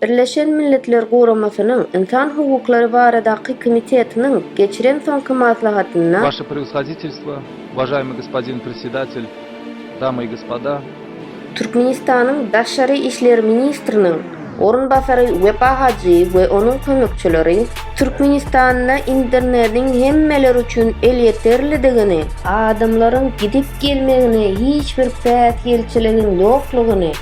Birleşen Milletler Guramasynyň Ynsan hukuklary baradaky komitetiniň geçiren soňky maslahatynda, Waşe Prewshoditelstwo, uwažaýmyý gospodin Predsedatel, damy i gospoda! Türkmenistanyň Daşary işler ministriniň orunbasary Wepa Hajyýew we onuň kömekçileri Türkmenistanda internetiň hemmeler üçin elýeterlidigini, adamlaryň gidip-gelmegine hiç bir päsgelçiligiň ýoklugyny,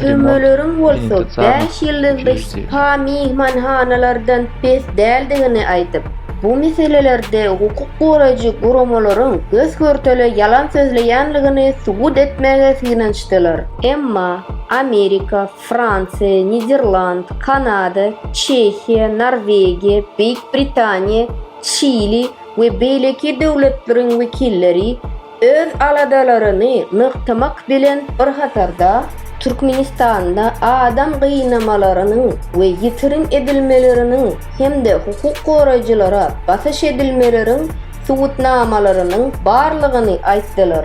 Türmeleriň bolsa bäş ýyldyzly spa myhmanhanalardan pes däldigini aýdyp, bu meselelerde hukuk goraýjy guramalaryň gös-görtele ýalan sözleýändigini subut etmäge synanyşdylar. Emma Amerika, Fransiýa, Niderland, Kanada, Çehiýa, Norwegiýa, Beýik Britaniýa, Çili we beýleki döwletleriň wekilleri Öz aladalaryny nygtamak bilen bir hatarda, Türkmenistanda adam gynamalarynyň we ýitirim edilmeleriniň hem-de hukuk goraýjylara basyş edilmeleriň subutnamalarynyň barlygyny aýtdylar.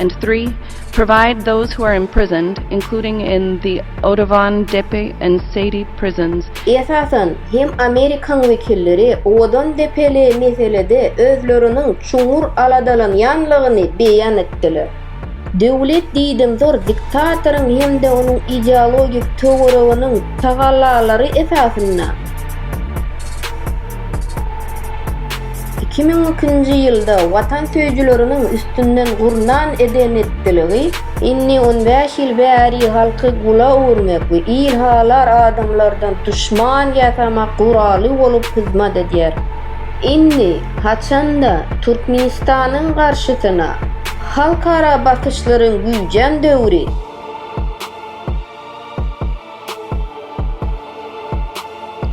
and three provide those who are imprisoned, including in the Oudouvan, Depe, and Seydi prisons, Esasan hem Amerikaň wekilleri Oudon-Depeli meselede özleriniň çuňňur aladalanýanlygyny beýan etdiler. Döwlet diýdimzor diktatoryň hem-de onuň ideologik töwereginiň tagallalary esasynda, iki müň ikinji ýylda watansöýüjileriňiň üstünden gurnan eden-etdiligi indi on bäş ýyl bäri halky gula öwürmek we ilhalar adamlardan duşman ýasamak guraly bolup hyzmat edýär. Indi haçanda Türkmenistanyň garşysyna halkara basyşlaryň güýjän döwri.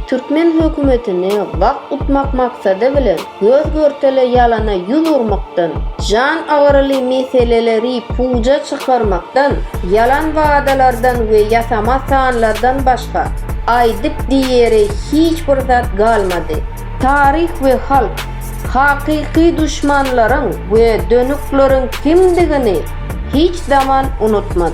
Türkmen hökümetini wagt utmak maksady bilen göz-görtele ýalana ýüz urmakdan, jan agyryly meseleleri puja çykarmakdan, ýalan wadalardan we ýasama sanlardan başga, Aýdyp diýere hiç bir zat galmady. Taryh we halk, hakyky duşmanlaryň we dönükleriň kimdigini hiç zaman unutmaz.